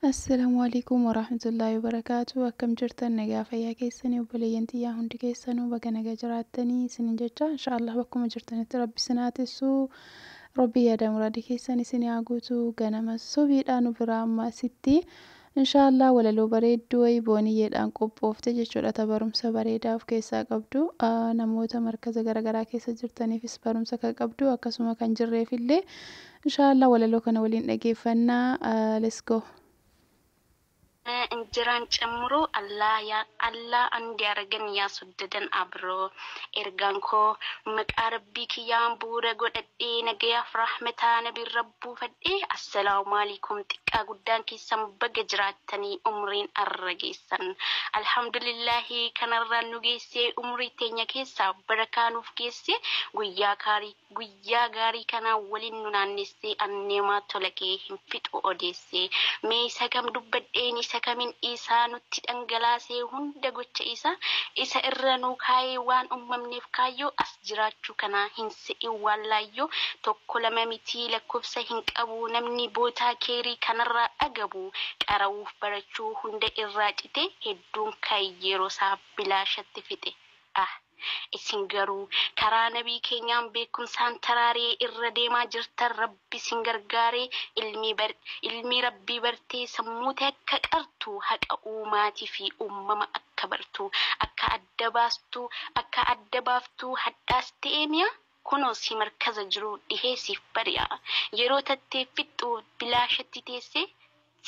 Assalamu alaikum warahmatullahi wabarakatuh akkam jirtan nagaa fayyaa keessanii obboleeyyan tiyyaa hundi keessanuu baga naga jiraattanii isinin jecha inshaallah bakkuma jirtanitti rabbi isin haa tissu rabbi yaada muraada keessan isin haa guutu ganama subiidhaan nu biraa amma asitti inshaallah walaloo bareedduu wayii booniyyeedhaan qophoofte jechuudha ta barumsa bareedaa of keessaa qabdu namoota markaza garagaraa keessa jirtaniifis barumsa kan qabdu akkasuma kan jirreefillee Inshaa Allah walaloo kana waliin dhageeffanna let's go. Injeran cemmuro Allah yaa Allah andi aragen yaa soddadan abro ergaan koo maqaa rabbii kiyyaan bu'uura godhadhee nagayaaf rahmetaa nabiirra buufadhee assalaumaalikum xiqqaa guddaan keessan baga jiraattanii umriin arra geessan alhamdulillahi kanarraan nu geessee umrii teenya keessaa barakaa nuuf geessee guyyaa kaarii Guyyaa gaarii kana waliin nu naannessee anneemaa tola kee hin fixu odeessee mee isa kam dubbadheen isa kamin isaa nutti dhangalaasee hunda gocha isaa isa irra nuu kaayee waan ummamneef kaayyoo as jiraachuu kanaa hin se'in waan laayyoo tokko lama mitii lakkofsa hin qabuu namni bootaa keeyrii kanarraa dhagabuu qara'uuf barachuu hunda irraa citee hedduun kan yeerosaa bilaashatti fixe Ah! Isin garuu karaa nabii keenyaan beekkumsaan taraaree irra deemaa jirtan rabbi isin gargaaree ilmii bar ilmii rabbii bartee sammuu tee akka qartu haqa uumaati fi uummama akka bartu akka adda baastu akka adda baaftu hadhaas ta'ee miyaa Kunoo si markaza jiruu dhihee siif bari'a, yeroo tattee fixxu bilaashatti teessee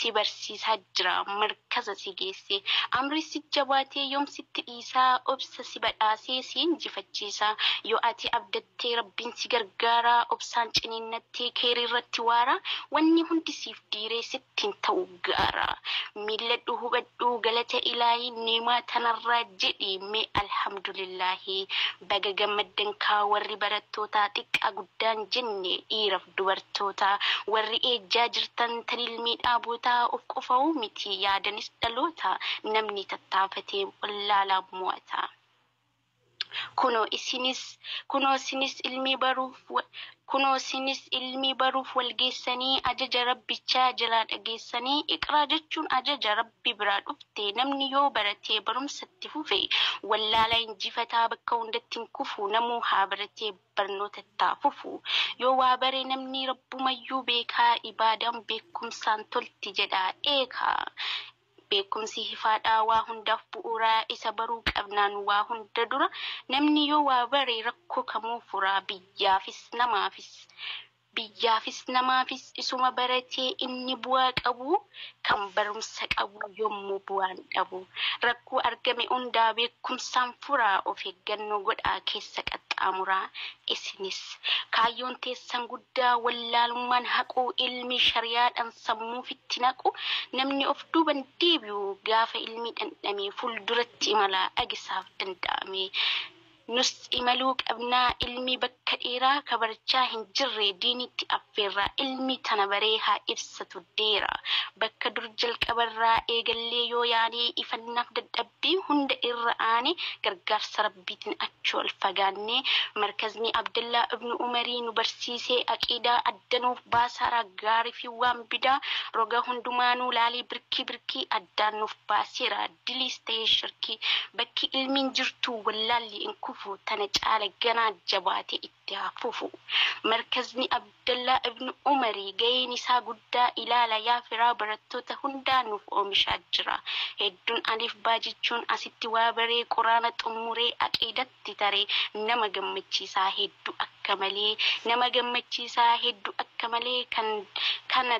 si barsiisaa jira markaza si geessee. Amrii si jabaatee yoom sitti dhiisaa obsa si badhaasee si injifachiisa. Yoo ati abdattee Rabbiin si gargaara obsaan ciniinnattee keeyriirratti waara wanni hundi siif diiree sitti hin ta'u. gaara. Milladhu hubadhuu galata ilaahi niimaa tanarraa jedhi mee alhamdulillaahi baga gammaddan kaa warri barattootaa xiqqaa guddaan jenne dhiiraf dubartootaa warri eejjaa jirtan tan ilmii dhaabootaa of qofauu miti yaadanis dhaloota namni tattaafatee wallaalaa moo'ataa. Kunoo isinis, kunoo sinis ilmii baruuf, kunoo sinis ilmii baruuf wal geessanii ajaja Rabbichaa jalaa dhageessanii iqraa jechuun ajaja Rabbi biraa dhufte namni yoo baratee barumsa itti fufe wallaala injifataa bakka hundatti hin kufu namuu haa baratee barnoota ittaa fufu yoo waa bare namni Rabbumayyuu beekaa ibaadaan beekkumsaan tolti jedhaa eekaa Beekumsi hifaadha waa hundaaf bu'uura, isa baruu qabnaan waa hunda dura. Namni yoo waa bare rakkoo kamuu fura, biyyaafis namaafis. Biyyaafis namaafis isuma baratee inni bu'aa qabu, kan barumsa qabu yommuu bu'aan dhabu. Rakkoo argame hundaa beekumsaan furaa, of eeggannoo godhaa keessa qaxxaamuraa. Isinis. Kaayyoon teessan guddaa wallaalummaan haquu, ilmii shariyaadhaan. sammuu ofitti naqu, namni of duuban deebi'u gaafa ilmi dhandhamee fuulduratti imala agisaaf danda'ame. Nus imaluu qabna, ilmi bakka dheeraa ka barachaa hin jirre diinitti affeerra, ilmi tana baree haa ibsatu deera. Bakka dur jalqabarraa eegallee yoo yaane ifannaaf dadhabbii. Rabbii hunda irra aane gargaarsa Rabbiitin achi ol fagaanne. Markazni Abdallaa ibnu Umarii nu barsiise Aqiidaa adda nuuf baasa raa gaari fi waan bidaa roga hundumaanuu laalii birkii birkii addaan nuuf baaseera diliis tahee shirkii bakki ilmiin jirtuu wallaalli in kufu tana caala ganaa jabaate itti itti haa fufu. Markazni Abdallaa Ibn Umari gaheen isaa guddaa ilaala yaa firaa barattoota hundaa nuuf oomishaa jira. Hedduun Alif Baa jechuun asitti waa baree Quraana xummuree Aqiidatti tare nama gammachiisaa heddu akka malee nama gammachiisaa heddu akka malee kan kana